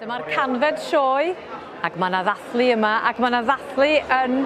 Dyma'r canfed sioe, ac mae yna ddathlu yma, ac mae yna ddathlu yn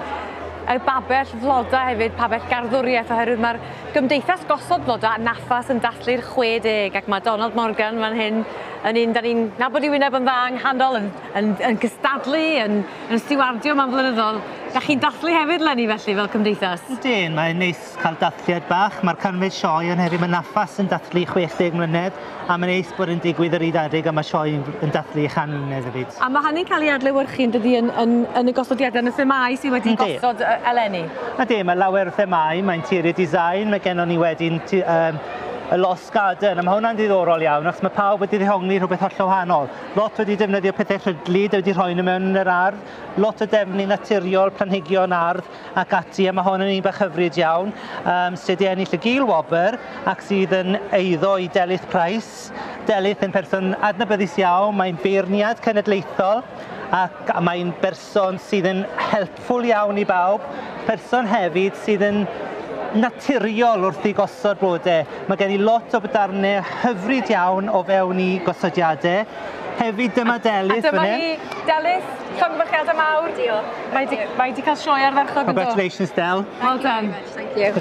y babell floda hefyd, pabell garddwriaeth, oherwydd mae'r Gymdeithas Gosod Bloda yn Nafas yn dathlu'r 60, ac mae Donald Morgan fan hyn yn un da ni'n nabod i wyneb yn dda yng nghanol, yn, yn, yn gystadlu, yn, yn stiwardio mewn flynyddoedd. Da chi'n dathlu hefyd, Lenny, felly, fel cymdeithas? Ydyn, mae'n neis Cael dathliad bach, mae'r canfyd sioe yn heddiw yn Nafas yn dathlu 60 mlynedd a mae'n neis bod yn digwydd yr Eid Adeg a mae sioe yn dathlu ei chan uned hefyd. A mae hynny'n cael ei adlewyrchu yn dydi yn, yn, yn y gosodiadau, yn y themâu sydd wedi Yndi. gosod e, eleni? Ydy, mae lawer o themâu, mae interior design, mae gennon ni wedyn tu- yym, y lost garden, a mae hwnna'n ddiddorol iawn achos mae pawb wedi ddehongli rhywbeth hollol wahanol. Lot wedi defnyddio pethau rhydlyd a wedi rhoi nhw mewn yn yr ardd, lot o defnydd naturiol, planhigion ardd, ac ati, a mae hon yn un bach hyfryd iawn, um, sydd wedi ennill y Gil Wobr ac sydd yn eiddo i Delyth Price. Delyth yn person adnabyddus iawn, mae'n beirniad cenedlaethol ac mae'n berson sydd yn helpful iawn i bawb, person hefyd sydd yn naturiol wrth i gosod blodau. Mae gen i lot o bydarnau hyfryd iawn o fewn i gosodiadau Hefyd dyma Delyth fan hyn. A dyma hi, Delyth, llongyfarchiadau mawr. Diolch. Mae di, mae di cael sioe ardderchog yndo? Congratulations Del. Well done. Thank you.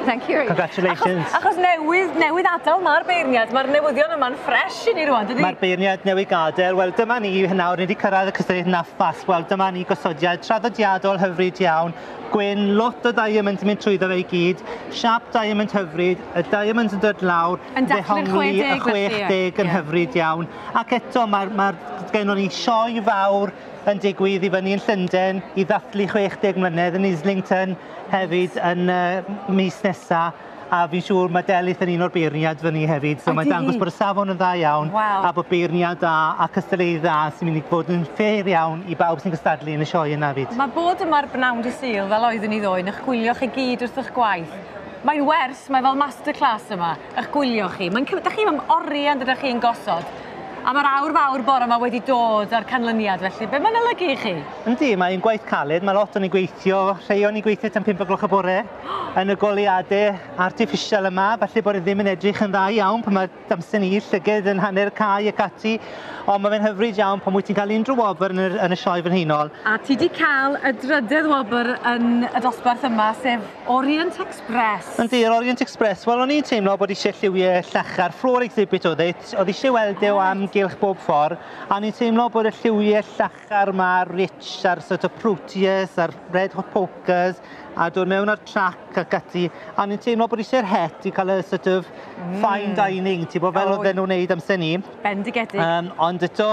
Thank you. Congratulations. Achos, achos newydd, newydd adael mae'r beirniad, mae'r newyddion yma'n ffres i ni rwan, dydy? Mae'r beirniad newydd gadael, wel dyma ni hyn nawr, ni wedi cyrraedd y cystadleuaeth naffas, wel dyma ni gosodiad traddodiadol hyfryd iawn, gwyn, lot o diamonds yn mynd trwyddo fe i gyd, siap diamond hyfryd, y diamonds yn dod lawr, Yn dathlu'r 60 felly ie. Y 60 yn hyfryd iawn ac eto mae'r mae'r gennon ni sioe fawr yn digwydd i fyny yn Llynden i ddathlu 60 mlynedd yn Islington hefyd yn y mis nesa a fi'n siŵr mae Delyth yn un o'r beirniad fyny hefyd so mae'n dangos bod y safon yn dda iawn a bod beirniad da a cystadleuydd dda sy'n mynd i fod yn ffêr iawn i bawb sy'n gystadlu yn y sioe yna 'fyd. Mae bod yma'r bnawn dydd Sul fel oeddwn i ddoe yn eich gwylio chi gyd wrth eich gwaith Mae'n wers, mae fel masterclass yma, ych gwylio chi. Mae'n cymryd, da chi am orian dydych chi'n gosod. A mae'r awr fawr bore yma wedi dod â'r canlyniad, felly be mae'n olygu i chi? Yndi, mae'n gwaith caled, mae lot o'n i'n gweithio, rhai o'n i'n gweithio tan 5 o gloch y bore, yn y goleadau artiffisial yma, falle bod e ddim yn edrych yn dda iawn pan mae damsen i, llyged yn hanner cae ac ati, ond mae fe'n hyfryd iawn pan wyt ti'n cael unrhyw wobr yn, yn y Sioe Frenhinol. A ti wedi cael y drydedd wobr yn y dosbarth yma, sef Orient Express. Yndi, yr Orient Express. Wel, o'n i'n teimlo bod eisiau lliwiau llachar, floor exhibit oedd e, oedd eisiau weld e o amgylch bob ffordd, a o'n i'n teimlo bod y lliwiau llachar car 'ma rich ar sort of proteus a'r red hot pokers a dod mewn ar trac ac ati a o'n i'n teimlo bod isio'r het i cael y sort of mm. fine dining ti bod fel oedd e'n wneud amser ni bendigedig um, ond eto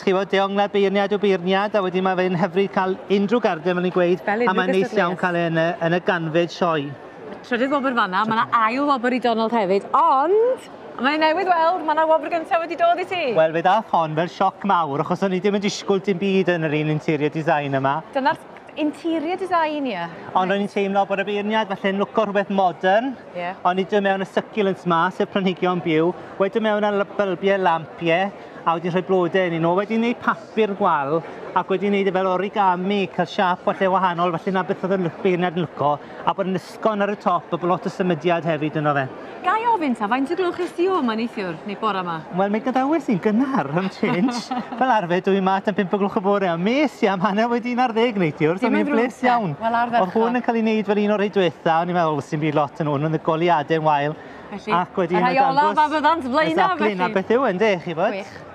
chi fod deonglad beirniad o beirniad a wedyn mae fe'n hyfryd cael unrhyw garden fel ni'n gweud a mae'n neis iawn cael e yn y, yn y ganfyd sioe Y trydydd wobr fanna, mae yna ail wobr i Donald hefyd, ond mae newydd weld, mae yna wobr gyntaf wedi dod i ti. Wel, fe ddath hon fel sioc mawr, achos o'n i ddim yn disgwyl dim byd yn yr un interior design yma. Dyna'r interior design, ie. Ond o'n i'n teimlo bod y beirniad falle'n lwco rhywbeth modern. Ie. O'n i dod mewn y succulents ma, sef planhigion byw, wedyn mewn â bylbiau lamp, ie, a wedi rhoi blodau yn un nhw, wedi gwneud papur gwal, ac wedi gwneud e fel origami, cael siap falle wahanol, falle na beth oedd y beirniad yn lwco. A bod yn ysgôn ar y top, a bod lot o symudiad hefyd yno fe. Ga i ofyn ta faint o gloch es ti o 'ma neithiwr, neu bore 'ma? Wel mi gadawes i'n gynnar am change. Fel arfer dw i 'ma tan pump o gloch y bore a m'es i am hanner wedi un ar ddeg neithiwr, so mi'n bles iawn. O'dd hwn yn cael ei wneud fel un o'r rhei dwetha, o'n i'n meddwl sdim byd lot yn hwn, ond y goleuade'n wael. Felly, y rhai olaf a fyddant flaenaf felly! Exactly, 'na beth yw e ynde, chi'n gwbod? Gwych.